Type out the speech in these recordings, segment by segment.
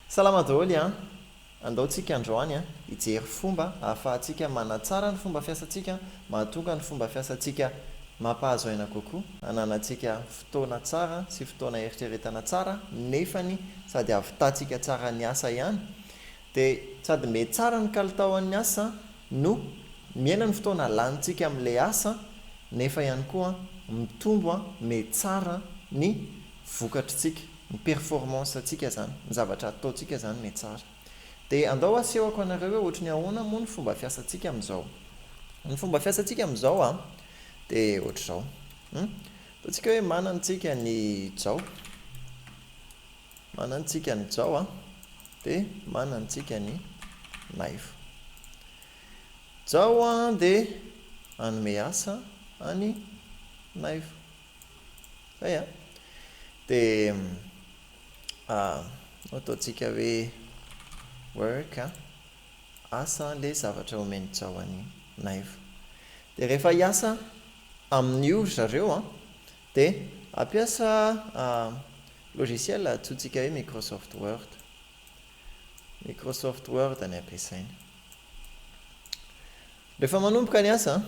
Salama daholo an! Andao tsika androany an, hijery fomba ahafahantsika manatsara ny fomba fiasantsika mahatonga ny fomba fiasantsika mampahazo aina kokoa, hananantsika fotoana tsara sy fotoana heritreretana tsara nefany sady hahavitantsika tsara ny asa ihany dia sady metsara ny kalitaon'ny asa no mihena ny fotoana lanintsika amin'ilay asa nefa ihany koa mitombo metsara ny vokatr'tsika, ny performance tsika zany, ny zavatra ataontsika zany me tsara. Dia andao asehoko anareo hoe ohatry ny ahoana moa ny fomba fiasantsika amin'izao. Ny fomba fiasantsika amin'izao an, dia ohatr'izao. Hum. Ataontsika hoe manana tsika ny jao. Manana tsika ny jao an, dia manana tsika ny naivo. Jao an dia hanome asa any naivo. Zay an! Dia ataontsika hoe work an! Asa an! Ilay zavatra omen'i Jao an'i Naivo. Dia rehefa hiasa amin'io ry zareo an! Dia hampiasa logiciel antsointsika hoe Microsoft Word. Microsoft Word ny ampiasainy. Rehefa manomboka ny asa an!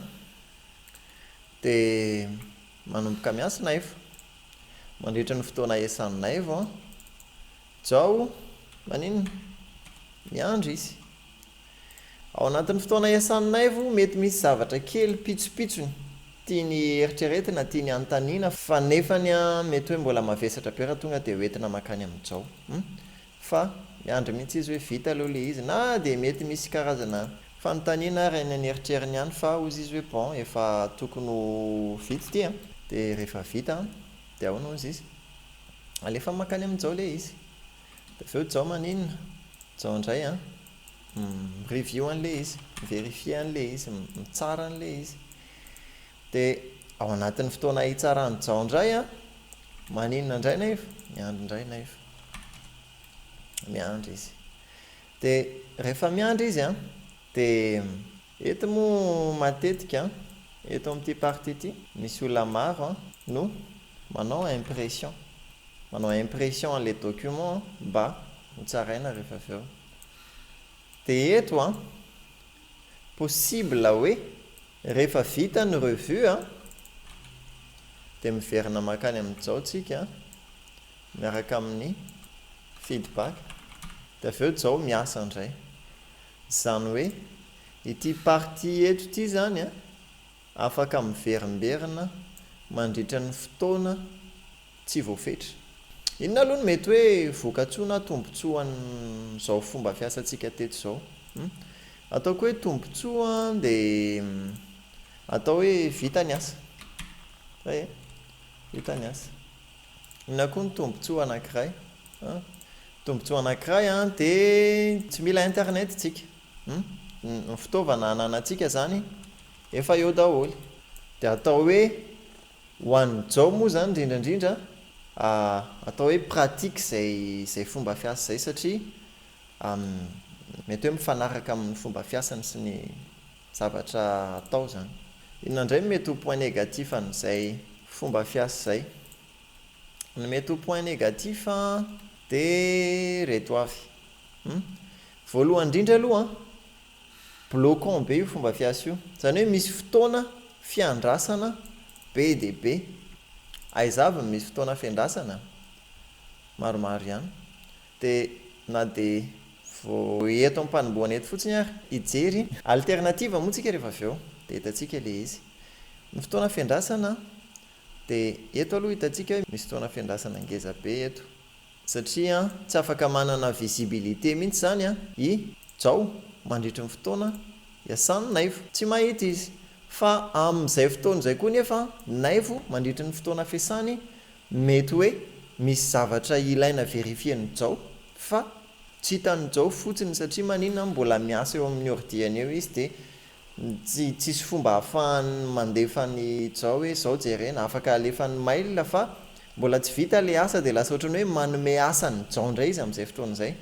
Dia manomboka miasa Naivo. Mandritra ny fotoana iasan'i Naivo an. Jao, maninona? Miandry izy. Ao anatin'ny fotoana iasan'i Naivo, mety misy zavatra kely pitsopitsony tiany eritreretina, tiany hanontaniana, fa nefany an, mety hoe mbola mavesatra be raha tonga dia hoentina mankany amin'i Jao. Hum. fa miandry mihitsy izy hoe vita aloha le izy na dia mety misy karazana fanontaniana ary any an'eritreriny any fa hozy izy hoe bon efa tokony ho vita ity an! de rehefa vita an! de ahoana hozy izy? alefa mankany amin'i Jao le izy! de avy eo Jao maninona? Jao indray an! mi-review an'le izy, mi-verifier an'le izy, mitsara an'le izy, Dia ao anatin'ny fotoana hitsarany Jao indray an! Maninona indray nefa? Miandry indray nefa. Miandry izy. Dia rehefa miandry izy an, dia. Eto moa matetika an, eto amin'ity partie ity, misy olona maro an, no manao impression. Manao impression an'ilay document mba ho tsaraina rehefa avy eo. Dia eto an, possible hoe. Rehefa vita ny revue a, dia miverina mankany amin'ny Jao tsika miaraka amin'ny feedback, dia avy eo Jao miasa indray. Izany hoe ity partie eto ity izany a, afaka miverimberina mandritra ny fotoana tsy voafetra. Inona aloha no mety hoe vokatsoa na tombontsoan'izao fomba fiasantsika teto izao? Hum. Ataoko hoe tombontsoa dia atao hoe vita ny asa. Zay e. Vita ny asa. Inona koa ny tombontsoa anankiray? Hum. Tombontsoa anankiray an, dia tsy mila internet tsika. Hum. Ny fitaovana ananantsika izany efa eo daholo. Dia atao hoe Ho an'i Jao moa izany indrindra indrindra atao hoe pratique izay izay fomba fiasa izay satria mety hoe mifanaraka amin'ny fomba fiasany sy ny zavatra atao izany. Inona indray no mety ho point négatif an'izay fomba fiasa izay? Ny mety ho point négatif dia ireto avy, voalohany indrindra aloha Bloquant be io fomba fiasa io. Izany hoe misy fotoana fiandrasana be dia be. Aiza avy no misy fotoana fiandrasana? Maromaro ihany. Dia na dia vao eto am-panombohana eto fotsiny ary hijery alternative moa tsika rehefa avy eo dia hitantsika ilay izy. Ny fotoana fiandrasana dia eto aloha hitantsika hoe misy fotoana fiandrasana ngeza be eto. Satria tsy afaka manana visibilité mihitsy izany i Jao mandritry ny fotoana iasan'i Naivo. Tsy mahita izy. Fa amin'izay fotoana izay koa nefa Naivo mandritry ny fotoana fiasany mety hoe misy zavatra ilaina verifien'i Jao fa tsy hitan'i Jao fotsiny satria maninona mbola miasa eo amin'ny ordiany eo izy dia Tsy tsisy fomba ahafahany mandefa ny zao hoe zao jerena, afaka alefany mail fa mbola tsy vita le asa de lasa ohatran'ny hoe manome asa an'i jao ndray izy am'zay fotoana zay.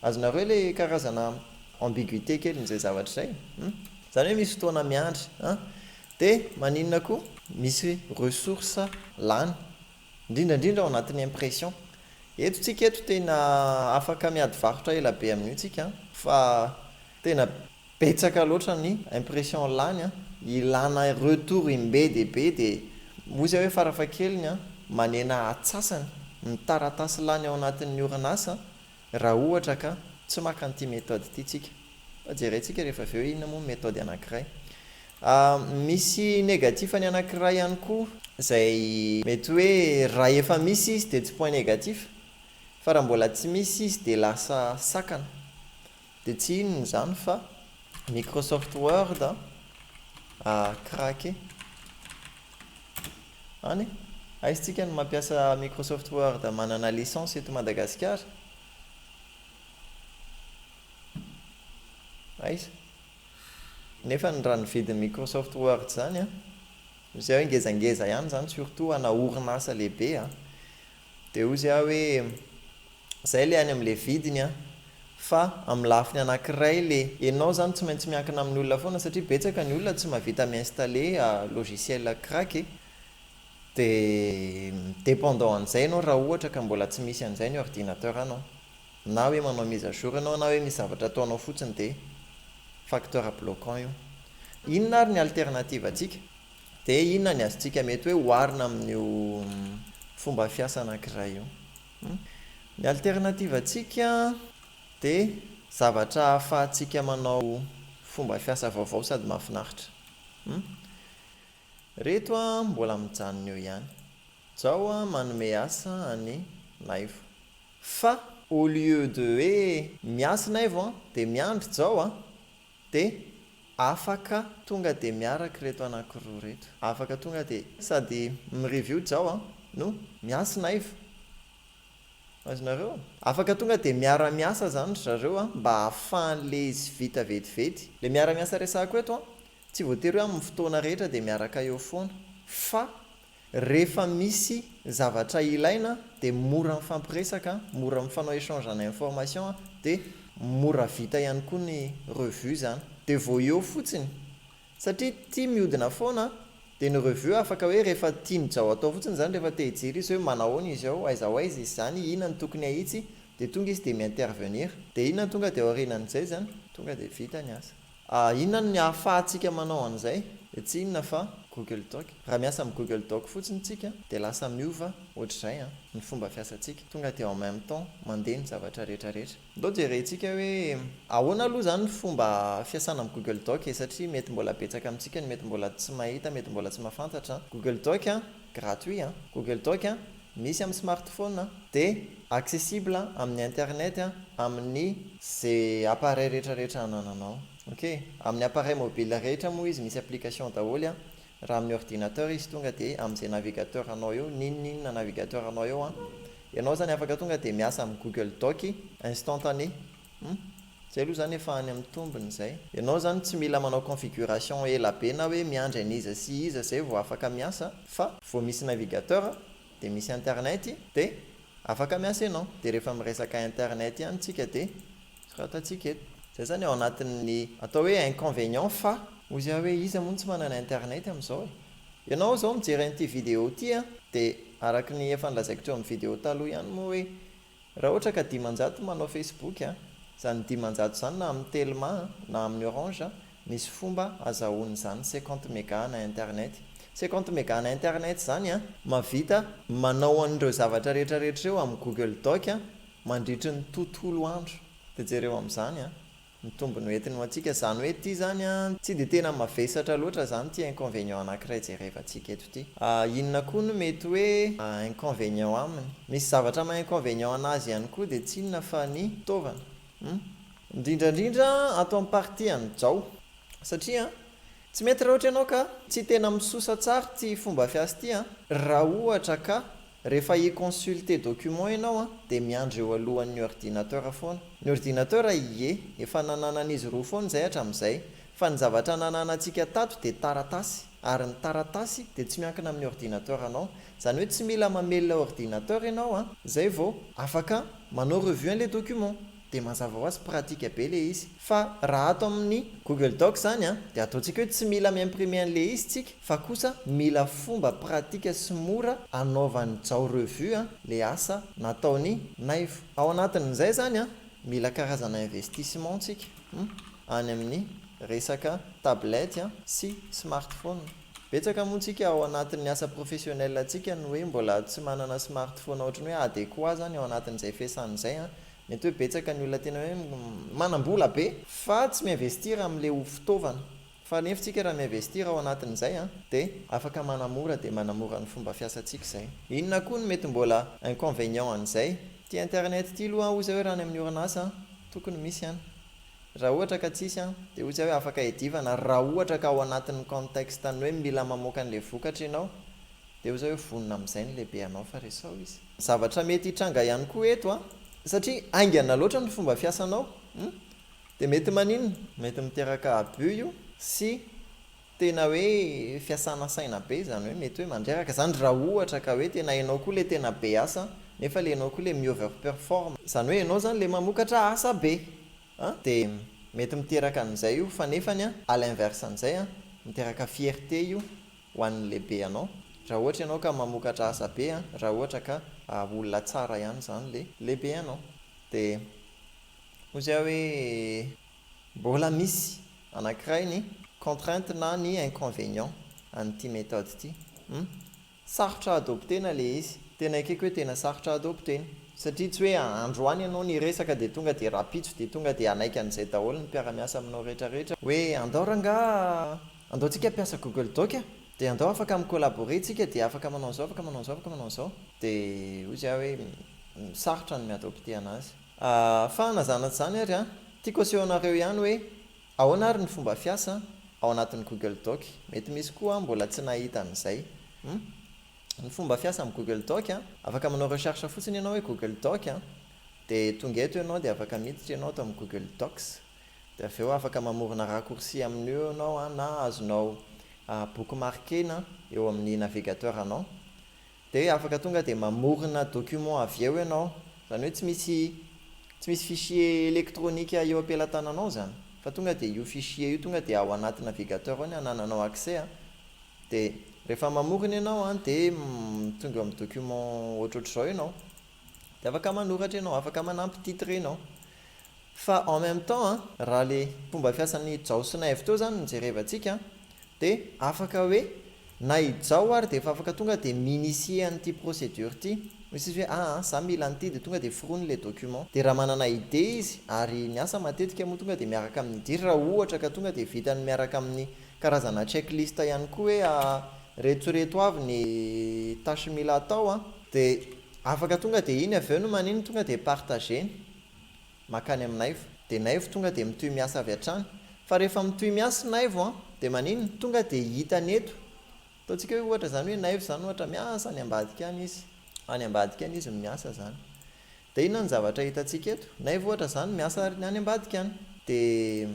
Azonareo le karazana ambiguité kelin'zay zavatra zay hum. Zany hoe misy fotoana miandry an! De maninona koa? Misy ressource lany, ndrindra ndrindra ao anatin'ny impression. Eto tsika eto tena afaka miady varotra ela be amin'io tsika an! Fa Tena betsaka loatra ny impression lany an! Ilana retour in be dia be dia moa izay hoe farafahakeliny an! manena atsasany ny taratasy lany ao anatin'ny orinasa raha ohatra ka tsy maka an'ity méthode ity tsika. Fa jeraintsika rehefa avy eo hoe inona moa ny méthode anankiray. Misy négatif ny anankiray ihany koa izay mety hoe raha efa misy izy dia tsy point négatif fa raha mbola tsy misy izy dia lasa sakana. Dia tsy inona izany fa Microsoft Word an, a craqué an e! Aiza tsika no mampiasa Microsoft Word manana licence eto Madagasikara? Aiza? Nefa ny raha ny vidin'ny Microsoft Word izany an, izay hoe ngezangeza ihany izany surtout ho ana orinasa lehibe an, Dia hozy aho hoe, Izay ilay any amin'ilay vidiny an! Fa amin'ny lafiny anankiray ilay ianao izany tsy maintsy miankina amin'ny olona foana satria betsaka ny olona tsy mahavita mi-installer logiciel crack e! Dia dépendant an'izay ianao raha ohatra ka mbola tsy misy an'izay ny ordinateur-nao. Na hoe manao mise à jour ianao na hoe misy zavatra ataonao fotsiny dia facteur bloquant io. Inona ary ny alternative-ntsika? Dia inona ny azontsika mety hoe oharina amin'io fomba fiasa anankiray io? Ny alternativan-tsika dia zavatra ahafahantsika manao fomba fiasa vaovao sady mahafinaritra. Reto mbola mijanona eo ihany. Jao manome asa an'i Naivo. Fa au lieu de hoe miasa i Naivo dia miandry Jao a! Dia afaka tonga dia miaraka ireto anankiroa ireto. Afaka tonga dia. Sady mi-review Jao an, no miasy naivo. Azonareo? Afaka tonga dia miara-miasa izany ry zareo an, mba ahafahan'ilay izy vita vetivety. Ilay miara-miasa resahako eto an, tsy voatery hoe amin'ny fotoana rehetra dia miaraka eo foana, fa Rehefa misy zavatra ilaina dia mora mifampiresaka, mora mifanao échange en information dia mora vita ihany koa ny revue zany. Dia vao eo fotsiny, satria ity miodina foana dia ny revue afaka hoe rehefa tian'i Jao atao fotsiny zany rehefa te hijery izy hoe manahoana izy ao, aiza ho aiza izy zany, inona no tokony ahitsy, dia tonga izy dia mi-intervenir. Dia inona no tonga dia aorianan'izay zany, tonga dia vita ny asa. A Inona no ahafahantsika manao an'izay? Dia tsy inona fa Google Doc. Raha miasa amin'ny Google Doc fotsiny isika dia lasa miova ohatr'izay an, ny fomba fiasantsika. Tonga dia en même temps mandeha ny zavatra rehetra rehetra. Ndao jerentsika hoe ahoana aloha izany ny fomba fiasana amin'ny Google Doc e, satria mety mbola betsaka amintsika no mety mbola tsy mahita, mety mbola tsy mahafantatra an. Google Doc an, Gratuit an! Google Doc an! Misy amin'ny smartphone an! Dia accessible amin'ny internet an! Amin'ny ze appareil rehetra rehetra anananao. Ok? Amin'ny appareil mobile rehetra moa izy misy application daholo an! Raha amin'ny ordinateur izy tonga dia amin'izay navigateur anao eo, n'inon'inona navigateur anao eo an! Ianao zany afaka tonga dia miasa amin'ny Google Doc instantané. Hum. Zay aloha zany efa any amin'ny tombony zay. Ianao zany tsy mila manao configuration ela be na hoe miandry an'iza sy iza zay vao afaka miasa fa vao misy navigateur dia misy internet dia afaka miasa ianao dia rehefa miresaka internet ihany tsika dia soratantsika eto. Zay zany ao anatin'ny atao hoe inconvénient fa. Hoy zay aho hoe iza moa no tsy manana internet amin'izao e? Ianao zao mijery an'ity video ity an dia araka ny efa nolazaiko teo amin'ny video taloha ihany moa hoe Raha ohatra ka dimanjato manao facebook a, zany dimanjato zany na amin'ny telma a, na amin'ny orange a, misy fomba azahoany zany cinquante mega ana internet. Cinquante mega ana internet zany a. Mahavita manao an'ireo zavatra rehetra rehetra ireo amin'ny google doc a, mandritry ny tontolo andro. De jereo amin'izany a. ny tombony ho entiny ho antsika zany hoe ty zany a tsy de tena mavesatra loatra zany ty inconvenient anakiray jerevantsika eto ty a inona koa no mety hoe inconvenient aminy misy zavatra maha inconvenient anazy ihany koa de tsy inona fa ny fitaovana hum indrindrandrindra ato am partie an'i jao satria tsy mety raha ohatra ianao ka tsy tena misosa tsara ty fomba fiasa ty a raha ohatra ka Rehefa hi consulter document ianao an, dia miandry eo alohan' ny ordinateur foana. Ny ordinateur, ie, efa nananan' izy roa foana izay hatram izay. Fa ny zavatra nananantsika tato dia taratasy. Ary ny taratasy dia tsy miankina amin' ny ordinateur anao. Izany hoe tsy mila mamelona ordinateur ianao an, izay vao. Afaka manao revue an' ilay document. Dia mazava ho azy pratique be ilay izy. Fa raha ato amin'ny Google Docs izany an, dia ataontsika hoe tsy mila mi-imprimer an'ilay izy tsika fa kosa mila fomba pratique sy mora anaovan'i Jao revue an, ilay asa nataon'i Naivo. Ao anatin'izay izany an, mila karazana investissement tsika hum, any amin'ny resaka tablette an, sy smartphone. Betsaka moa tsika ao anatin'ny asa professionnel tsika no hoe mbola tsy manana smartphone ohatran'ny hoe adéquat izany ao anatin'izay fiasana izay an, Mety hoe betsaka ny olona tena hoe manambola be fa tsy mi-investir amin'ilay ho fitaovana. Fa nefo tsika raha mi-investir ao anatin'izay an, dia afaka manamora dia manamora ny fomba fiasantsika izay. Inona koa no mety mbola inconvenient an'izay? Ity internet ity aloha an, hoy zay hoe raha any amin'ny orinasa an, tokony misy an. Raha ohatra ka tsisy an, dia hoy zay hoe afaka edivana raha ohatra ka ao anatin'ny contexte ny hoe mila mamoaka an'ilay vokatra ianao. Dia hoy zay hoe vonona amin'izay ny lehibe anao fa resao izy. Zavatra mety hitranga ihany koa eto an! Satria haingana loatra ny fomba fiasanao hum! Dia mety maninona? Mety miteraka abus io sy tena hoe fiasana saina be izany hoe mety hoe mandreraka izany raha ohatra ka hoe tena ianao koa ilay tena be asa nefa ilay ianao koa ilay mi-over perform, izany hoe ianao izany ilay mamokatra asa be an! Dia mety miteraka an'izay io fa nefany an à l'inverse an'izay an! Miteraka fierté io ho an'ny lehibe anao raha ohatra ianao ka mamokatra asa be an, raha ohatra ka olona tsara ihany izany le lehibe anao de hoy zay hoe mbola misy anankiray ny contrainte na ny inconvénient an'ity méthode ity hum sarotra adoptena le izy, tena ekeko hoe tena sarotra adoptena satria tsy hoe androany ianao niresaka de tonga de rapitso de tonga de hanaiky an'izay daholo ny mpiara-miasa aminao rehetra rehetra hoe andao rangah, Andao tsika mpiasa google doc a! De andao afaka mi collaborer tsika de afaka manao an'zao afaka manao an'zao afaka manao an'zao! De hoy zay aho hoe sarotra ny mi adopter anazy! Ahh fa na zany na tsy zany ary an! Tiako aseho anareo ihany hoe ahoana ary ny fomba fiasa an! Ao anatin'ny google doc! Mety misy koa an mbola tsy nahita an'izay! Hum! Ny fomba fiasa amin'ny google doc an! Afaka manao recherche fotsiny ianao hoe google doc an! De tonga eto ianao de afaka miditra ianao ato amin'ny google docs! Dia avy eo afaka mamorona raccourci amin'io ianao na azonao bookmarkena eo amin'ny navigateur anao. Dia afaka tonga dia mamorona document avy eo ianao. Izany hoe tsy misy tsy misy fichier elektronika eo am-pelatananao izany fa tonga dia io fichier io tonga dia ao anaty navigateur ao ny anananao accès. Dia rehefa mamorona ianao dia tonga eo amin'ny document ohatrohatr'izao ianao. Dia afaka manoratra ianao, afaka manampy titre ianao. Fa en même temps an, raha le fomba fiasan'i Jao sy Naivo teo zany no jerevantsika an, de afaka hoe na i Jao ary de efa afaka tonga de mi-initier an'ity procédure ity, misy izy hoe aa za mila an'ity de tonga de forony le document, de raha manana idée izy ary ny asa matetika moa tonga de miaraka amin'ny idée raha ohatra ka tonga de vitany miaraka amin'ny karazana check list ihany koa hoe aa reto reto avy ny tâche mila atao an, de afaka tonga de iny avy eo no manino tonga de partager-ny. makany am naivo de naivo tonga de mitohy miasa avy hatrany fa rehefa mitohy miasa i naivo an de maninona tonga de hita ny eto ataontsika hoe ohatra zany hoe naivo zany ohatra miasa any ambadika any izy any ambadika any izy no miasa zany de inona ny zavatra hitantsika eto naivo ohatra zany miasa any ambadika any de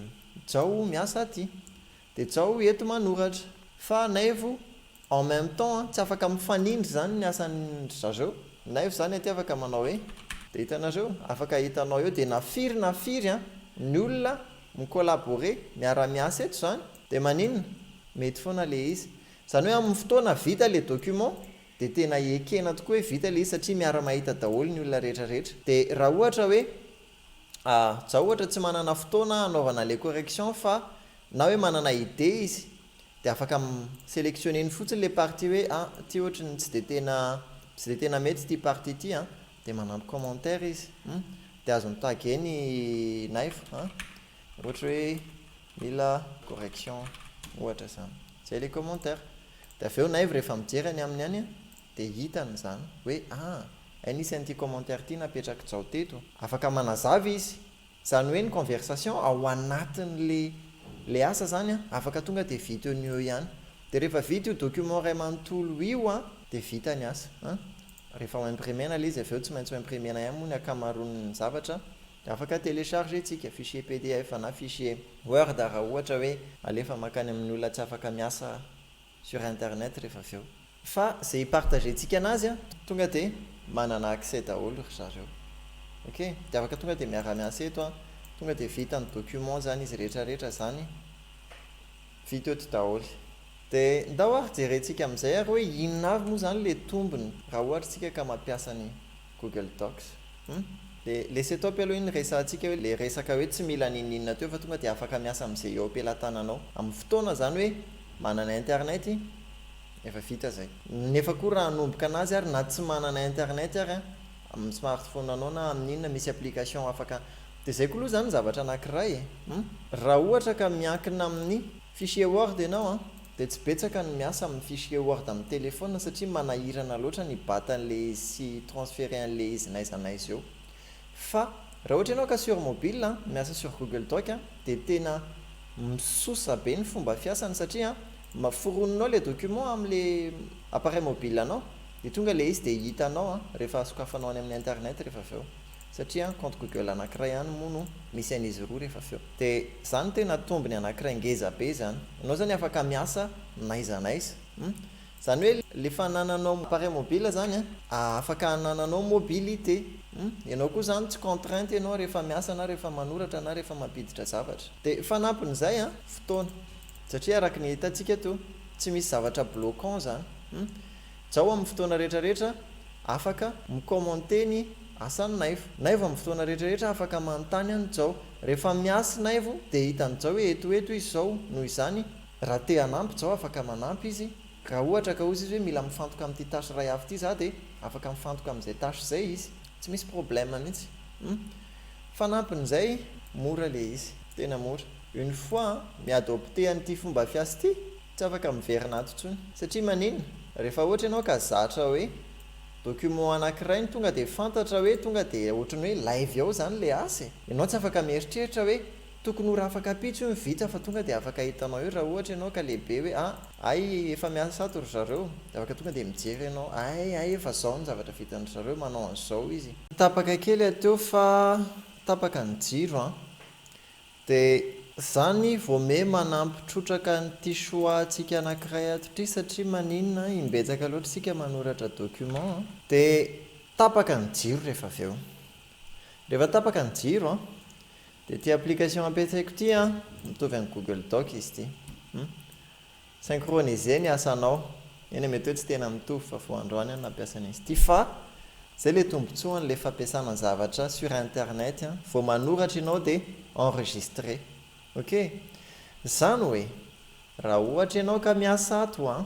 jao miasa aty Dia zao eto manoratra. Fa Naivo en même temps an, tsy afaka mifanindry zany ny asan dry zareo. Naivo zany aty afaka manao hoe. Dia hitanareo, afaka hitanao eo, dia na firy na firy an, ny olona mi collaborer, miara miasa eto zany, dia maninona? Mety foana le izy. Zany hoe amin ny fotoana vita le document, dia tena ekena tokoa hoe vita le izy satria miara mahita daholo ny olona rehetra rehetra. Dia raha ohatra hoe Za ohatra tsy manana fotoana hanaovana le correction fa na hoe manana idée izy de afaka mi selectionner-ny fotsiny le partie hoe a ty ohatry ny tsy de tena tsy de tena mety ty partie ty an de manampy commentaire izy hum de azony taguer ny knife an ohatra hoe mila correction ohatra zany zay le commentaire de avy eo knife rehefa mijery any aminy any Dia hitany izany, hoe ah, ainisy an'ity commentaire ity napetrak'i Jao teto. Afaka manazava izy. Izany hoe ny conversation ao anatin'ilay ilay asa izany an, afaka tonga dia vita eo no eo ihany. Dia rehefa vita io document iray manontolo io an, dia vita ny asa. An, rehefa ho imprimer-na ilay izy avy eo, tsy maintsy ho imprimer-na ihany moa ny ankamaroan'ny zavatra, dia afaka telecharger-tsika, fichier pdf na fichier word raha ohatra hoe alefa mankany amin'ny olona tsy afaka miasa sur internet rehefa avy eo fa ze hi-partager tsika anazy a tonga de manana accès daholo ry zareo ok de afaka tonga de miara-miasa eto a tonga de vita ny document zany izy rehetra rehetra zany vita eto daholo de ndao ary jerentsika amizay ary hoe inona avy moa zany le tombony raha ohatra tsika ka mampiasa ny Google Docs. Hum. Le le setop aloha iny resahantsika hoe le resaka hoe tsy mila n'inon'inona teo fa tonga dia afaka miasa amin'izay eo am-pelatananao. Amin'ny fotoana izany hoe manana internet efa vita izay. Nefa koa raha hanomboka anazy ary na tsy manana internet ary an, amin'ny smartphone anao na amin'inona misy application afaka dia izay koa aloha izany ny zavatra anankiray e. Hum. Raha ohatra ka miankina amin'ny fichier word ianao an, Dia tsy betsaka ny miasa amin'ny fichier word amin'ny telephone satria manahirana loatra ny bat an'ilay izy sy transfere an'ilay izy n'aiza n'aiza eo. Fa raha ohatra ianao ka sur mobile miasa sur google doc dia tena misosa be ny fomba fiasany satria foroninao ilay document amin'ilay appareil mobile anao dia tonga ilay izy dia hitanao rehefa sokafanao any amin'ny internet rehefa avy eo. Satria an compte google anakiray ihany moa no misy an'izy roa rehefa avy eo. De zany no tena tombony anakiray ngeza be zany. Anao zany afaka miasa n'aiza n'aiza. Hum. Zany hoe lefa anananao appareil mobile zany an, afaka anananao mobilité. Hum. Ianao koa zany tsy contrainte ianao rehefa miasa na rehefa manoratra na rehefa mampiditra zavatra. De fanampin'izay an, fotoana. Satria araky ny hitantsika eto, tsy misy zavatra bloquant zany. Hum. Jao amin'ny fotoana rehetra rehetra afaka mi commenter ny asan'i Naivo. Naivo amin'ny fotoana rehetra rehetra afaka manontany an'i Jao. Rehefa miasa i Naivo dia hitan'i Jao hoe eto ho eto izy zao noho izany raha te hanampy Jao afaka manampy izy. Raha ohatra ka hozy izy hoe mila mifantoka amin'ity tâche iray hafa ity za dia afaka mifantoka amin'izay tâche izay izy. Tsy misy problème mihitsy. Humm. Fanampin'izay mora ilay izy. Tena mora. Une fois mi adopter an'ity fomba fiasa ity Tsy afaka miverina ato intsony. Satria maninona? Rehefa ohatra ianao ka zatra hoe document anankiray no tonga dia fantatra hoe tonga dia ohatran'ny hoe live ao izany ilay asa e! Ianao tsy afaka mieritreritra hoe tokony ho rafakapitso io ny vita fa tonga dia afaka hitanao eo raha ohatra ianao ka lehibe hoe a! ay efa miasa ato ry zareo! Dia afaka tonga dia mijery ianao ay ay efa izao ny zavatra vitan-dry zareo, manao an'izao izy. Tapaka kely hateo fa tapaka ny jiro an! De zany vo me manampy trotraka an'ity choix tsika anakiray ato ty satria maninona an imbetsaka loatra isika manoratra document an. De tapaka ny jiro rehefa avy eo. Rehefa tapaka ny jiro an. De ty application ampiasaiko ty an, mitovy am google doc izy ty. Hum. Synchroniser ny asanao. Eny mety hoe tsy tena mitovy fa vao androany aho nampiasa ny an'ity fa zay le tombotsoany le fampiasana zavatra sur internet an, vao manoratra ianao dia enregistrer. Ok? Zany hoe raha ohatra ianao ka miasa ato an,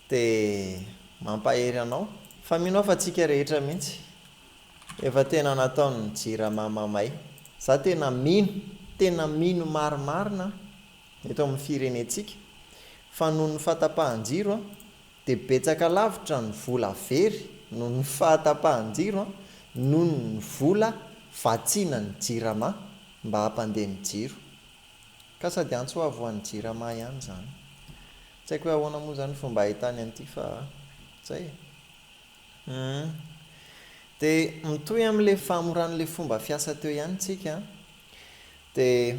dia mampahery anao fa mino aho fa tsika rehetra mihitsy efa tena nataon'ny jirama mamay. Za tena mino, tena mino marimarina. eto amin'ny firenentsika fa noho ny fahatapahan-jiro dia betsaka lavitra ny vola very noho ny fahatapahan-jiro noho ny vola vatsiana ny Jirama mba hampandeha ny jiro ka sady antso avo ho an'ny Jirama ihany izany. Tsy haiko hoe ahoana moa izany ny fomba ahitany an'ity fa izay e! Humm. Dia mitohy amin'ilay fahamoran'ilay fomba fiasa teo ihany isika an! Dia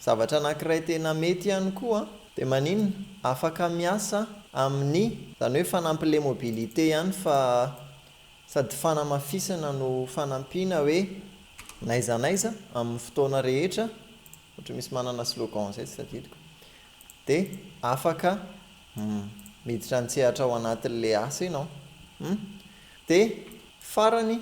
zavatra anankiray tena mety ihany koa dia maninona afaka miasa amin'ny izany hoe fanampy le mobilité ihany fa sady fanamafisana no fanampiana hoe n'aiza n'aiza amin'ny fotoana rehetra ohatry misy manana slogan izay tsy tadidiko dia afaka miditra an-tsehatra ao anatin'le asa ianao. Dia farany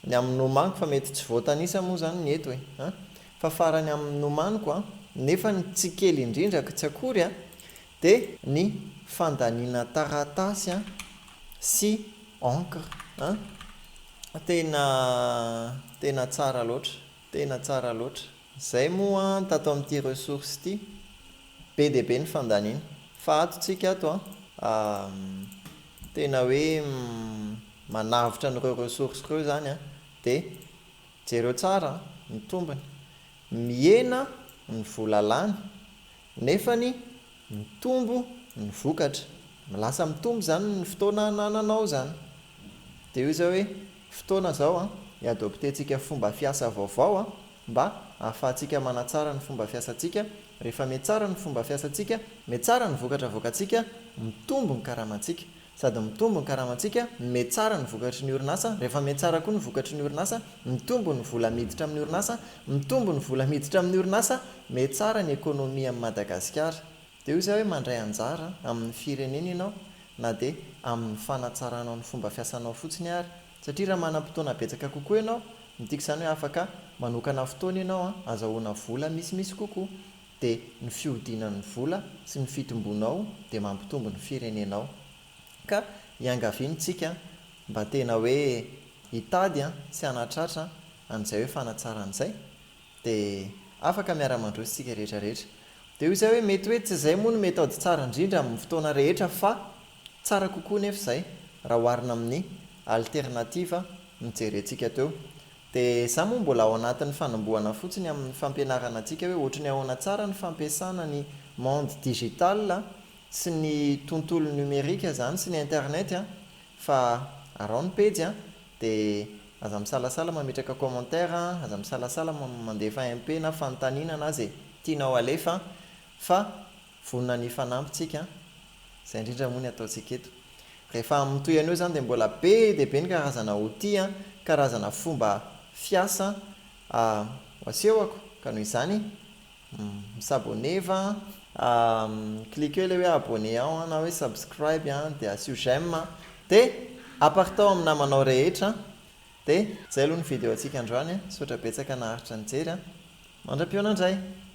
Ny amin'ny nomaniko fa mety tsy voatanisa moa izany ny eto e! an! fa farany amin'ny nomaniko an! nefa ny tsy kely indrindra ka tsy akory an! dia ny fandaniana taratasy an! sy encre an! tena tena tsara loatra! tena tsara loatra! Izay moa an tato amin'ity ressource ity be dia be ny fandaniana fa ato tsika ato an am tena hoe manavotra an'ireo ressource ireo izany an dia jereo tsara an ny tombony mihena ny vola lany nefany mitombo ny vokatra, lasa mitombo izany ny fotoana anananao izany. Dia eo izao hoe, fotoana izao an, hi-adopter-tsika fomba fiasa vaovao an, mba ahafahantsika manatsara ny fomba fiasantsika, rehefa mihatsara ny fomba fiasantsika, mihatsara ny vokatra avoakantsika, mitombo ny karamantsika. Sady mitombo ny karamantsika, miha tsara ny vokatry ny orinasa, rehefa miha tsara koa ny vokatry ny orinasa, mitombo ny vola miditra amin'ny orinasa, mitombo ny vola miditra amin'ny orinasa, miha tsara ny économie amin'i Madagasikara. Dia hoy izaho hoe mandray anjara amin'ny firenena ianao na dia amin'ny fanatsaranao ny fomba fiasanao fotsiny ary, satria raha manam-potoana betsaka kokoa ianao, midika izany hoe afaka manokana fotoana ianao azahoana vola misimisy kokoa. dia ny fihodinan'ny vola sy ny fitombonao dia mampitombo ny firenenao. Ka iangaviany tsika mba tena hoe hitady sy hanatratra an'izay hoe fanatsarana izay dia afaka miara-mandroso tsika rehetra rehetra. Dia hoy zay hoe mety hoe tsy izay moa no méthode tsara indrindra amin'ny fotoana rehetra fa tsara kokoa nefa izay raha oharina amin'ny alternative nojerentsika teo. Dia za moa mbola ao anatin'ny fanombohana fotsiny amin'ny fampianarana antsika hoe ohatry ny ahoana tsara ny fampiasana ny monde digital sy ny tontolo numerique zany sy ny internet an! Fa araho ny pejy an! Dia aza misalasala mametraka commentaire an! Aza misalasala mandefa MP na fanontaniana na ze tianao alefa an! Fa Vonona ny hifanampy tsika an! Izay indrindra moa ny ataontsika eto. Rehefa mitohy an'io izany dia mbola be dia be ny karazana outil an, karazana fomba fiasa an, ho asehoko ka noho izany mi s'abonner va an, cliquer ilay hoe abonner ao an, na hoe subscribe an, dia asio j'aime an, dia apartao amin'ny namanao rehetra an, dia izay aloha ny video antsika androany an, misaotra betsaka naharitra nijery an, mandra-pihaona indray.